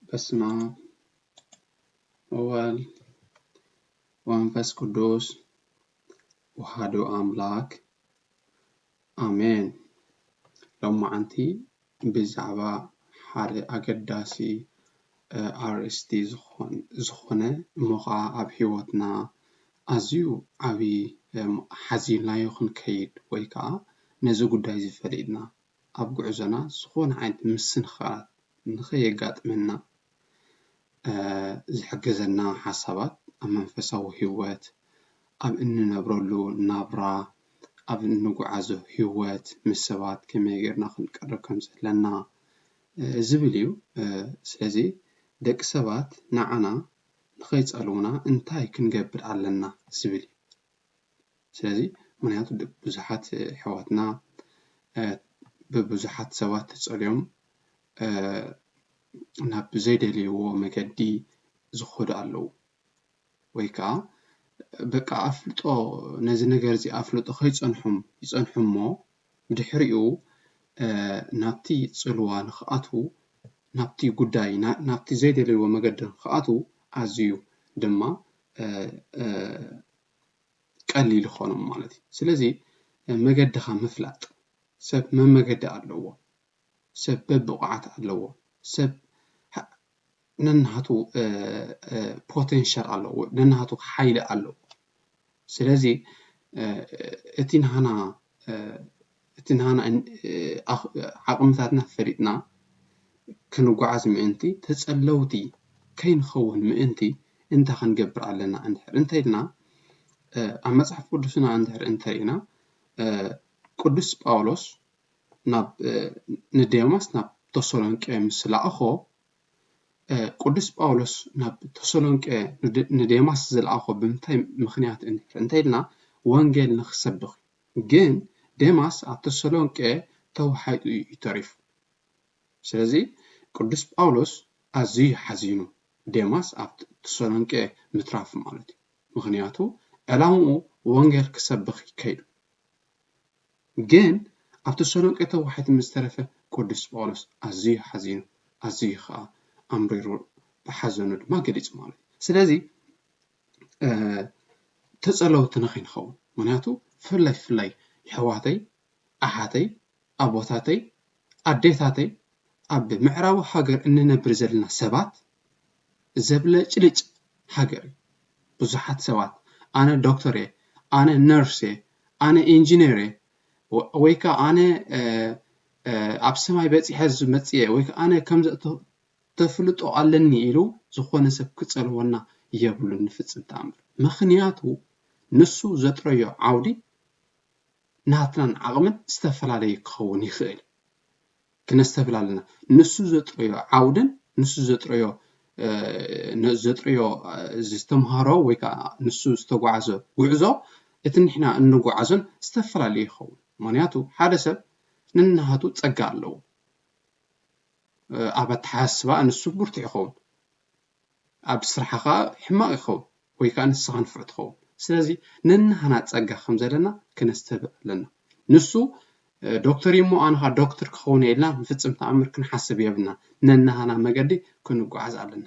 በስመ አብ ወወልድ ወመንፈስ ቅዱስ ወሃዱ ኣምላክ ኣሜን። ሎማዓንቲ ብዛዕባ ሓደ ኣገዳሲ ኣርእስቲ ዝኾነ እሞ ኻዓ ኣብ ሂወትና ኣዝዩ ዓብይ ሓዚልናዮ ክንከይድ ወይ ኻዓ ነዚ ጉዳይ እዚ ፈሊጥና ኣብ ጉዕዞና ዝኾነ ዓይነት ምስንኻላት ንኸየጋጥመና ዝሕግዘና ሓሳባት ኣብ መንፈሳዊ ህይወት፣ ኣብ እንነብረሉ ናብራ፣ ኣብ እንጉዓዞ ህይወት ምስ ሰባት ከመይ ጌርና ክንቀርብ ከም ዘለና ዝብል እዩ። ስለዚ ደቂ ሰባት ንዓና ንኸይጸልዉና እንታይ ክንገብር ኣለና ዝብል እዩ። ስለዚ ምክንያቱ ብዙሓት ኣሕዋትና ብብዙሓት ሰባት ተጸልዮም ናብ ዘይደልይዎ መገዲ ዝኸዱ ኣለዉ ወይ ከዓ በቃ ኣፍልጦ ነዚ ነገር እዚ ኣፍልጦ ከይጸንሖም ይጸንሑ እሞ ብድሕሪኡ ናብቲ ጽልዋ ንኽኣትዉ ናብቲ ጉዳይ ናብቲ ዘይደልይዎ መገዲ ንኽኣትዉ ኣዝዩ ድማ ቀሊል ኾኖም ማለት እዩ ስለዚ መገድኻ ምፍላጥ ሰብ መመገዲ ኣለዎ ሰብ በብቑዓት ኣለዎ ሰብ ነናቱ ፖቴንሻል ኣለዎ ነናቱ ሓይሊ ኣለዎ ስለዚ እቲ ናህና እቲ ንሃና ዓቕምታትና ፈሊጥና ክንጓዓዝ ምእንቲ፣ ተጸለውቲ ከይንኸውን ምእንቲ እንታይ ክንገብር ኣለና እንድሕር እንተ ኢልና፣ ኣብ መጽሓፍ ቅዱስና እንድሕር እንተ ርኢና ቅዱስ ጳውሎስ ናብ ንዴማስ ናብ ተሰሎንቄ ምስ ለኣኾ ቅዱስ ጳውሎስ ናብ ተሰሎንቄ ንዴማስ ዝለኣኾ ብምንታይ ምኽንያት እንድሕር እንተ ኢልና ወንጌል ንኽሰብኽ እዩ። ግን ዴማስ ኣብ ተሰሎንቄ ተዋሒጡ እዩ ተሪፉ። ስለዚ ቅዱስ ጳውሎስ ኣዝዩ እዩ ሓዚኑ ዴማስ ኣብ ተሰሎንቄ ምትራፉ ማለት እዩ። ምኽንያቱ ዕላምኡ ወንጌል ክሰብኽ እዩ ከይዱ። ግን ኣብ ተሰሎንቄ ተዋሒጡ ምስ ተረፈ ቅዱስ ጳውሎስ ኣዝዩ ሓዚኑ ኣዝዩ ኸኣ ኣምሪሩ ብሓዘኑ ድማ ገሊጹ ማለት እዩ። ስለዚ ተጸለውቲ ንኸይንኸውን ምኽንያቱ ብፍላይ ብፍላይ የሕዋተይ ኣሓተይ ኣቦታተይ ኣዴታተይ ኣብ ምዕራቡ ሃገር እንነብር ዘለና ሰባት ዘብለጭልጭ ሃገር እዩ ብዙሓት ሰባት ኣነ ዶክተር እየ ኣነ ነርስ እየ ኣነ ኢንጅነር እየ ወይ ከኣ ኣነ ኣብ ሰማይ በጺሐ ዝመጽእ እየ ወይ ከኣ ኣነ ከምዚ ተፍልጦ ኣለኒ ኢሉ ዝኾነ ሰብ ክጸልወና የብሉን ንፍጽም ተኣምር ምኽንያቱ ንሱ ዘጥረዮ ዓውዲ ናትናን ዓቕምን ዝተፈላለየ ክኸውን ይኽእል እዩ ክነስተብህል ኣለና ንሱ ዘጥረዮ ዓውድን ንሱ ዘጥረዮ ዘጥርዮ ዝተምሃሮ ወይ ከዓ ንሱ ዝተጓዓዘ ጉዕዞ እቲ ንሕና እንጓዓዞን ዝተፈላለየ ይኸውን ምክንያቱ ሓደ ሰብ ንናሃቱ ጸጋ ኣለዎ ኣብ ኣተሓሳስባ ንሱ ብርቱዕ ይኸውን ኣብ ስራሓ ከኣ ሕማቅ ይኸውን ወይ ከኣ ንስኻ ንፉዕ ትኸውን ስለዚ ነንሃና ጸጋ ከም ዘለና ክነስተብዕል ኣለና ንሱ ዶክተር እዩሞ ኣነ ከኣ ዶክተር ክኸውን እየ ኢልና ንፍጽም ተኣምር ክንሓስብ የብልናን ነንሃና መገዲ ክንጓዓዝ ኣለና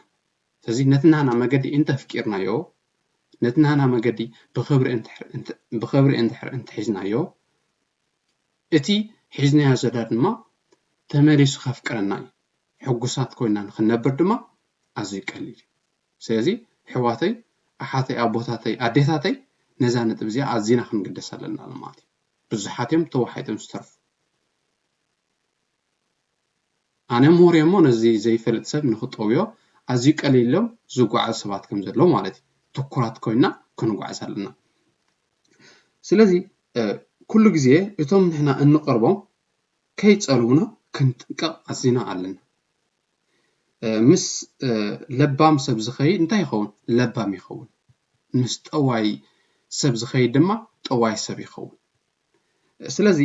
ስለዚ ነቲ ናህና መገዲ እንተ ኣፍቂርናዮ ነቲ ናህና መገዲ ብኽብሪ እንድሕር እንተ ሒዝናዮ እቲ ሒዝናዮ ዘለና ድማ ተመሊሱ ከፍቅረና እዩ። ሕጉሳት ኮይና ንክንነብር ድማ ኣዝዩ ቀሊል እዩ። ስለዚ ኣሕዋተይ ኣሓተይ ኣቦታተይ ኣዴታተይ ነዛ ነጥቢ እዚኣ ኣዚና ክንግደሳ ኣለና ማለት እዩ። ብዙሓት እዮም ተዋሒጦም ዝተርፉ። ኣነ ምሁር እየ እሞ ነዚ ዘይፈልጥ ሰብ ንኽጠውዮ ኣዝዩ ቀሊል ኢሎም ዝጓዓዙ ሰባት ከም ዘለዉ ማለት እዩ። ትኩራት ኮይና ክንጓዓዝ ኣለና። ስለዚ ኩሉ ግዜ እቶም ንሕና እንቐርቦም ከይጸልዉና ክንጥንቀቕ ኣዚና ኣለና። ምስ ለባም ሰብ ዝኸይድ እንታይ ይኸውን? ለባም ይኸውን። ምስ ጠዋይ ሰብ ዝኸይድ ድማ ጠዋይ ሰብ ይኸውን። ስለዚ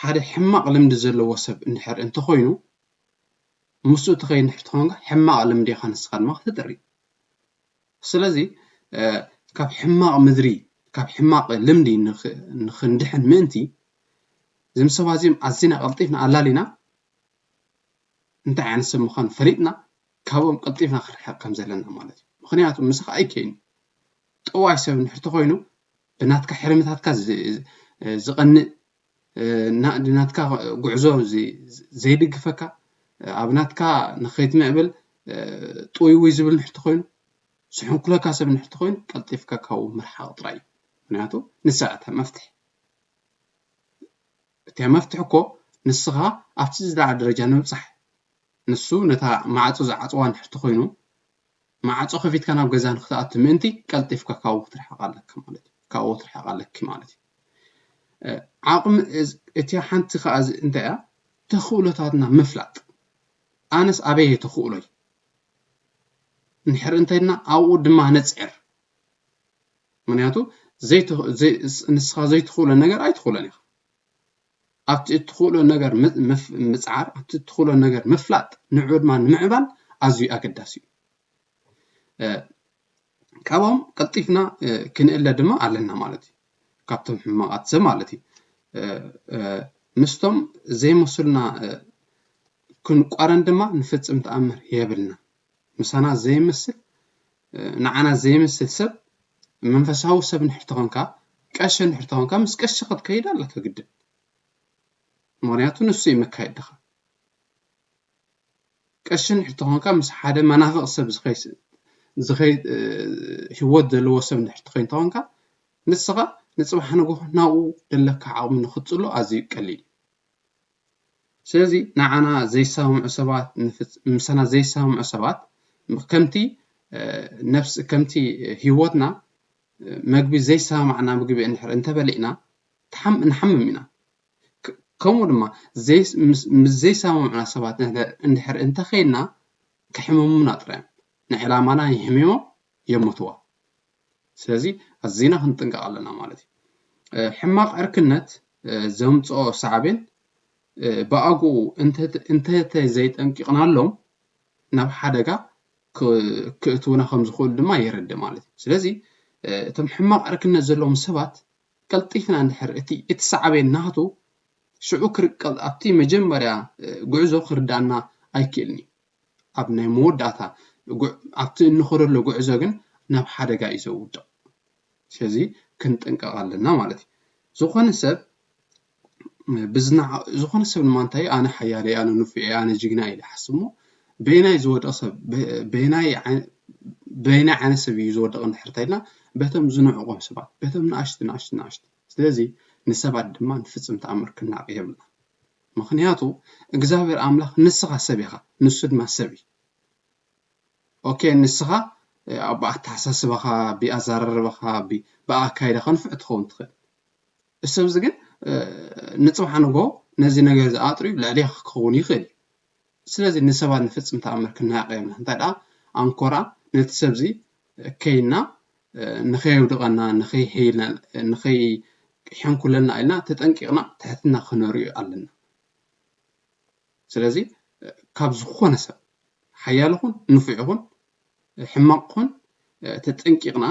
ሓደ ሕማቕ ልምዲ ዘለዎ ሰብ እንድሕር እንተኾይኑ ምስኡ እትኸይድ እንድሕር ትኾንካ ሕማቕ ልምዲ ኢኻ ንስኻ ድማ ክትጥሪ ስለዚ ካብ ሕማቕ ምድሪ ካብ ሕማቕ ልምዲ ንኽንድሕን ምእንቲ እዞም ሰባት እዚኦም ኣዝና ቀልጢፍና ኣላሊና እንታይ ዓይነት ሰብ ምዃኑ ፈሊጥና ካብኦም ቀልጢፍና ክርሕቕ ከም ዘለና ማለት እዩ ምክንያቱ ምስኻ ኣይከይኑ ጠዋይ ሰብ እንድሕር ተኾይኑ ብናትካ ሕርምታትካ ዝቐንእ ንናትካ ጉዕዞ ዘይድግፈካ ኣብ ናትካ ንኸይትምዕብል ጥውይውይ ዝብል እንድሕር ተኾይኑ ዝሕንኩለካ ሰብ እንድሕር ተኾይኑ ቀልጢፍካ ካብኡ ምርሓቕ ጥራይ እዩ ምክንያቱ ንሳ እታ መፍትሒ እታ መፍትሒ እኮ ንስኻ ኣብቲ ዝለዓለ ደረጃ ንምብጻሕ ንሱ ነታ ማዕጾ ዝዓጽዋ እንድሕር ተኾይኑ ማዕጾ ከፊትካ ናብ ገዛ ንክትኣቱ ምእንቲ ቀልጢፍካ ካብኡ ክትርሕቅ ኣለካ ማለት እዩ ካብኡ ክትርሕቅ ኣለኪ ማለት እዩ ዓቅሚ እቲያ ሓንቲ ከኣ እንታይ እያ ተኽእሎታትና ምፍላጥ ኣነስ ኣበይ እየ ተኽእሎይ ንሕር እንተይልና ኣብኡ ድማ ነፅዕር ምክንያቱ ንስኻ ዘይትኽእሎ ነገር ኣይትኽእሎን ኢኻ ኣብቲ እትኽእሎ ነገር ምጽዓር፣ ኣብቲ እትኽእሎ ነገር ምፍላጥ፣ ንዕዑ ድማ ንምዕባል ኣዝዩ ኣገዳሲ እዩ። ካብኦም ቀልጢፍና ክንእለ ድማ ኣለና ማለት እዩ ካብቶም ሕማቓት ሰብ ማለት እዩ ምስቶም ዘይመስሉና ክንቋረን ድማ ንፍጽም ተኣምር የብልና ምሳና ዘይመስል ንዓና ዘይመስል ሰብ መንፈሳዊ ሰብ ንድሕር ተኾንካ ቀሺ ንድሕር ተኾንካ ምስ ቀሺ ክትከይድ ኣለካ ግድን ምክንያቱ ንሱ እዩ መካየድኻ ቀሺ ንድሕር ተኾንካ ምስ ሓደ መናፍቕ ሰብ ዝኸይ ህይወት ዘለዎ ሰብ ንድሕር ትኸይን ተኾንካ ንስኻ ንፅባሕ ንግሆ ናብኡ ዘለካ ዓቕሚ ንክትፅሎ ኣዝዩ ቀሊል እዩ ስለዚ ንዓና ዘይሰማምዑ ሰባት ምሳና ዘይሰማምዑ ሰባት ከምቲ ነፍስ ከምቲ ህይወትና መግቢ ዘይሰማማዕና ምግቢ እንድሕር እንተበሊዕና ንሓምም ኢና ከምኡ ድማ ምስ ዘይሰማምዑና ሰባት እንድሕር እንተኼንና ከሕምሙና ጥራይ እዮም ንዕላማና የሕሚሞም የምትዋ ስለዚ ኣዚና ክንጥንቀቅ ኣለና ማለት እዩ። ሕማቅ ዕርክነት ዘምጽኦ ሳዕቤን ብኣግኡ እንተተዘይጠንቂቅናሎም ናብ ሓደጋ ክእትውና ከም ዝክእሉ ድማ የረድእ ማለት እዩ። ስለዚ እቶም ሕማቅ ዕርክነት ዘለዎም ሰባት ቀልጢፍና እንድሕር እቲ እቲ ሳዕቤን ናቱ ሽዑ ኣብቲ መጀመርያ ጉዕዞ ክርድኣና ኣይክእልን እዩ። ኣብ ናይ መወዳእታ ኣብቲ እንኸደሉ ጉዕዞ ግን ናብ ሓደጋ እዩ ዘውድቕ ስለዚ ክንጥንቀቕ ኣለና ማለት እዩ ዝኾነ ሰብ ዝኾነ ሰብ ድማ እንታይ ኣነ ሓያለ ኣነ ንፉዕ ኣነ ጅግና ኢለ ሓስሞ በየናይ ዝወድቕ ሰብ በየናይ በየናይ ዓይነት ሰብ እዩ ዝወድቕ እንድሕር እንተኢልና በቶም ዝንዕቆም ሰባት በቶም ንኣሽቱ ንኣሽቱ ንኣሽቱ ስለዚ ንሰባት ድማ ንፍፅም ተኣምር ክንናዕቕ የብልና ምኽንያቱ እግዝኣብሄር ኣምላኽ ንስኻ ሰብ ኢኻ ንሱ ድማ ሰብ እዩ ኦኬ ንስኻ ብኣተሓሳስባኻ ብኣዘራርባኻ ብኣካይዳኻ ንፉዕ ትኸውን ትኽእል እዚ ሰብ እዚ ግን ንጽባሕ ንጎ ነዚ ነገር እዚ ኣጥርዩ ልዕሌኻ ክኸውን ይኽእል እዩ ስለዚ ንሰባት ንፍጽም ተኣምር ክንሃቂ የብልናን እንታይ ደኣ ኣንኮራ ነቲ ሰብዚ ከይንና ንኸየውድቀና ንኸይሕይልና ንኸይሕንኩለልና ኢልና ተጠንቂቅና ትሕትና ክነርእዩ ኣለና ስለዚ ካብ ዝኾነ ሰብ ሓያል ይኹን ንፉዕ ይኹን ሕማቅ ይኹን ተጠንቂቅና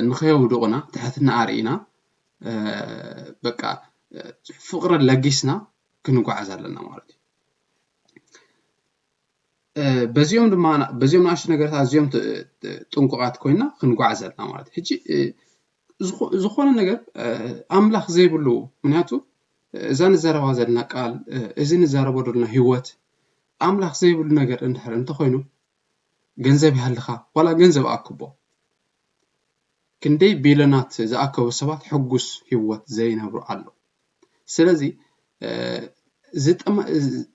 ንኸየውድቁና ትሕትና ኣርኢና በቃ ፍቅሪ ለጊስና ክንጓዓዝ ኣለና ማለት እዩ በዚኦም ድማ በዚኦም ንኣሽቱ ነገራት ኣዝዮም ጥንቁቓት ኮይና ክንጓዓዝ ኣለና ማለት እዩ ሕጂ ዝኾነ ነገር ኣምላኽ ዘይብሉ ምክንያቱ እዛ ንዘረባ ዘለና ቃል እዚ ንዛረቦ ዘለና ህይወት ኣምላኽ ዘይብሉ ነገር እንድሕር እንተኾይኑ ገንዘብ ይሃልኻ ዋላ ገንዘብ ኣክቦ ክንደይ ቢልዮናት ዝኣከቡ ሰባት ሕጉስ ህይወት ዘይነብሩ ኣለዉ። ስለዚ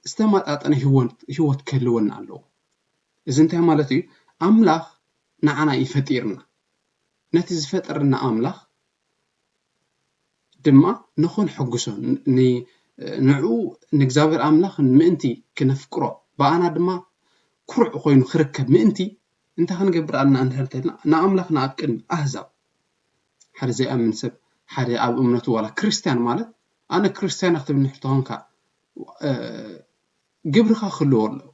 ዝተመጣጠነ ህይወት ክህልወና ኣለዎ። እዚ እንታይ ማለት እዩ? ኣምላኽ ንዓና እዩ ፈጢርና። ነቲ ዝፈጠረና ኣምላኽ ድማ ንኽንሕጕሶ፣ ንዕኡ ንእግዚኣብሄር ኣምላኽ ምእንቲ ክነፍቅሮ፣ ብኣና ድማ ኵሩዕ ዀይኑ ኽርከብ ምእንቲ፣ እንታይ ኽንገብር ኣሎና እንድሕር ተይልና፣ ንኣምላኽና ኣብ ቅድሚ ኣህዛብ፣ ሓደ ዘይኣምን ሰብ፣ ሓደ ኣብ እምነቱ ዋላ ክርስትያን ማለት፣ ኣነ ክርስትያን እየ ኽትብል እንድሕር ተዀንካ፣ ግብርኻ ክህልዎ ኣለዎ፣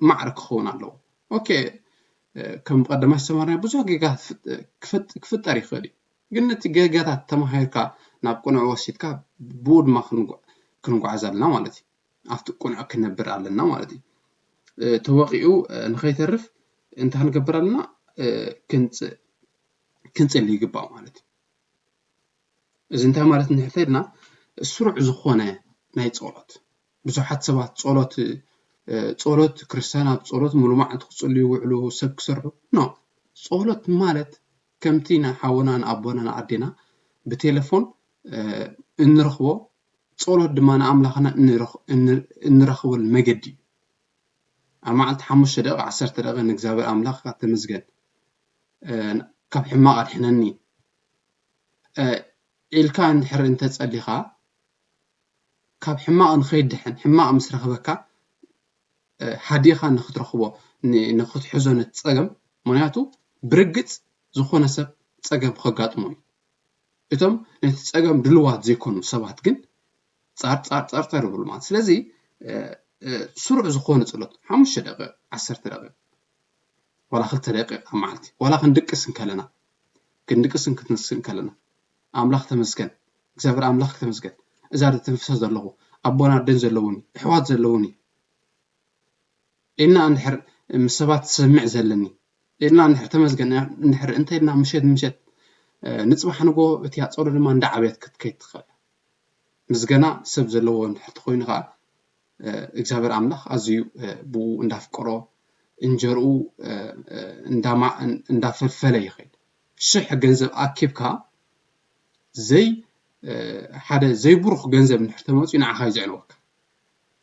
ማዕረ ክኸውን ኣለዎ። ኦኬ፣ ከም ብቐደማይ ዝተማህርናዮ ብዙሕ ጌጋታት ክፍጠር ይኽእል እዩ። ግን ነቲ ጌጋታት ተማሂርካ ናብ ቅኑዕ ወሲድካ ብውድማ ክንጓዓዝ ኣለና ማለት እዩ። ኣብቲ ቅኑዕ ክንነብር ኣለና ማለት እዩ። ተወቒዑ ንኸይተርፍ እንታይ ክንገብር ኣለና? ክንጽእ ክንጽሊ ይግባእ ማለት እዩ። እዚ እንታይ ማለት እንድሕር ኢልና ስሩዕ ዝኾነ ናይ ጸሎት ብዙሓት ሰባት ጸሎት ጸሎት ክርስትያን ኣብ ጸሎት ሙሉ መዓልቲ ክጽልዩ ይውዕሉ ሰብ ክሰርሑ ኖ ጸሎት ማለት ከምቲ ንሓውና ንኣቦና ንኣዴና ብቴለፎን እንረኽቦ ጸሎት ድማ ንኣምላኽና እንረኽበሉ መገዲ እዩ ኣብ መዓልቲ ሓሙሽተ ደቂቕ ዓሰርተ ደቂቕ ንእግዚኣብሔር ኣምላኽካ ተመስገን ካብ ሕማቕ ኣድሕነኒ ኢልካ እንድሕር እንተጸሊኻ ካብ ሕማቕ ንኸይድሕን ሕማቕ ምስ ረኽበካ ሃዲእኻ ንኽትረኽቦ ንኽትሕዞ ነቲ ጸገም ምኽንያቱ ብርግጽ ዝኾነ ሰብ ጸገም ከጋጥሞ እዩ እቶም ነቲ ጸገም ድልዋት ዘይኮኑ ሰባት ግን ጻርጻርጻርጻር ይብሉ ማለት ስለዚ ስሩዕ ዝኾነ ጸሎት ሓሙሽተ ደቂቕ ዓሰርተ ደቂቕ ዋላ ክልተ ደቂቕ ኣብ መዓልቲ ዋላ ክንድቅስ እንከለና ክንድቅስን ክትንስእን ከለና ኣምላክ ተመስገን እግዚኣብሔር ኣምላክ ተመስገን እዛ ዘተንፍሳ ዘለኩ ኣቦን ኣደን ዘለዉኒ እሕዋት ዘለዉኒ ኢልና እንድሕር ምስ ሰባት ዝሰምዕ ዘለኒ ኢልና እንድሕር ተመስገን እንድሕር እንተኢልና ምሸት ምሸት ንፅባሕ ንጎ እቲ ኣፀሎ ድማ እንዳዓብየት ክትከይድ ትኽእል ምስገና ሰብ ዘለዎ እንድሕር ተኮይኑ ከዓ እግዚኣብሔር ኣምላክ ኣዝዩ ብኡ እንዳፍቀሮ እንጀርኡ እንዳፈልፈለ ይኸይድ ሽሕ ገንዘብ ኣኪብካ ዘይ ሓደ ዘይብሩኽ ገንዘብ እንድሕር ተመፅዩ ንዓኻ እዩ ዘዕንወካ።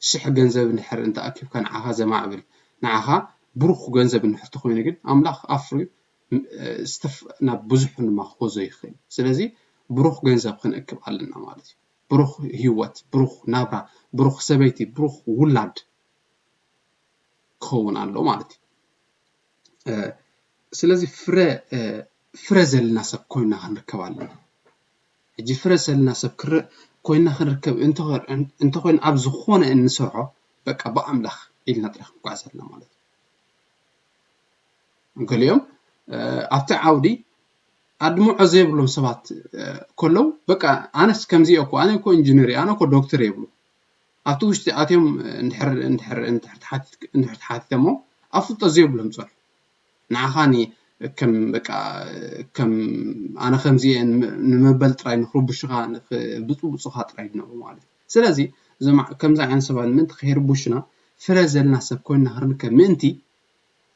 ሽሕ ገንዘብ እንድሕር እንተኣኪብካ ንዓኻ ዘማዕብል ንዓኻ ብሩኽ ገንዘብ እንድሕር ተኾይኑ ግን ኣምላኽ ኣፍርዩ ናብ ብዙሕ ድማ ክሕዞ ይኽእል እዩ። ስለዚ ብሩኽ ገንዘብ ክንእክብ ኣለና ማለት እዩ። ብሩኽ ህይወት፣ ብሩኽ ናብራ፣ ብሩኽ ሰበይቲ፣ ብሩኽ ውላድ ክኸውን ኣሎ ማለት እዩ። ስለዚ ፍረ ፍረ ዘለና ሰብ ኮይና ክንርከብ ኣለና ሕጂ ፍረ ዘለና ሰብ ኮይና ክንርከብ እንተኮይኑ ኣብ ዝኮነ እንሰርሖ በቃ ብኣምላኽ ኢልና ጥራይ ክንጉዓዝ ኣለና ማለት እዩ ገሊኦም ኣብቲ ዓውዲ ኣድምዖ ዘይብሎም ሰባት ከለው በቃ ኣነስ ከምዚ እየ እኮ ኣነ እኮ ኢንጅነር እየ ኣነ እኮ ዶክተር እየ ይብሉ ኣብቲ ውሽጢ ኣትዮም እንድሕር እንድሕር እንድሕር ተሓቲትክ እንድሕር ተሓቲተሞ ኣብ ፍልጦት ዘየብሎም ጸርፊ ንዓኻ ን ከም በቃ ከም ኣነ ከምዚ እየ ንመበል ጥራይ ንኽርቡሹኻ ንኽብጽቡጹኻ ጥራይ ድነብሩ ማለት እዩ ስለዚ እዞም ከምዚ ዓይነት ሰባት ምእንቲ ከይርቡሹና ፍረ ዘለና ሰብ ኮይንና ክንርከብ ምእንቲ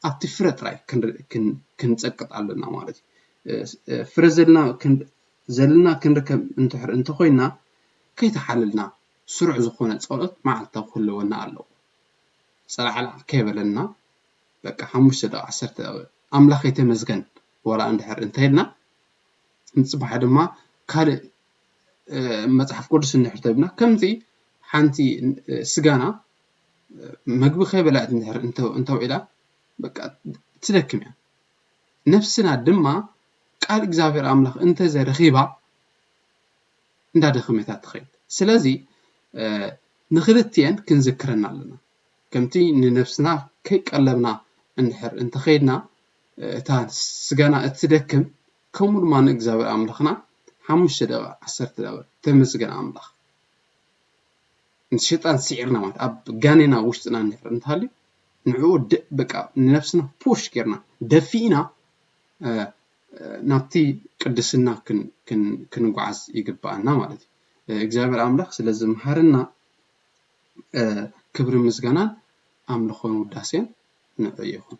ኣብቲ ፍረ ጥራይ ክንጸቅጥ ኣሎና ማለት እዩ ፍረ ዘለና ክንርከብ እንድሕር እንተኾይንና ከይተሓለልና ስሩዕ ዝኾነ ጸሎት መዓልታዊ ክህልወና ኣለዎ ጸላዕላዕ ከይበለና በቃ ሓሙሽተ ደቂቅ ዓሰርተ ደቂቅ ኣምላኸይ ተመስገን ዋላ እንድሕር እንተኢልና ንጽባሕ ድማ ካልእ መጽሓፍ ቅዱስ እንድሕር ተብና ከምቲ ሓንቲ ስጋና መግቢ ከይበልዐት እንድሕር እንተውዒላ በቃ ትደክም እያ ነፍስና ድማ ቃል እግዚኣብሔር ኣምላኽ እንተዘ ረኺባ እንዳደኸመታ ትኸይድ ስለዚ ንክልትኤን ክንዝክረና ኣለና ከምቲ ንነፍስና ከይቀለብና እንድሕር እንተኸይድና እታ ስጋና እትደክም ከምኡ ድማ ንእግዚኣብሔር ኣምላኽና ሓሙሽተ ደቂቕ ዓሰርተ ደቂቕ ተመስገን ኣምላኽ ምስ ሸጣን ሲዒርና ማለት ኣብ ጋኔና ውሽጥና እንድሕር እንተሃልዩ ንዕኡ በቃ ንነብስና ፑሽ ጌርና ደፊእና ናብቲ ቅድስና ክንጓዓዝ ይግብኣና ማለት እዩ። እግዚኣብሔር ኣምላኽ ስለ ዝመሃረና ክብርን ምስጋናን ኣምልኾን ውዳሴን ንዑ ይኹን።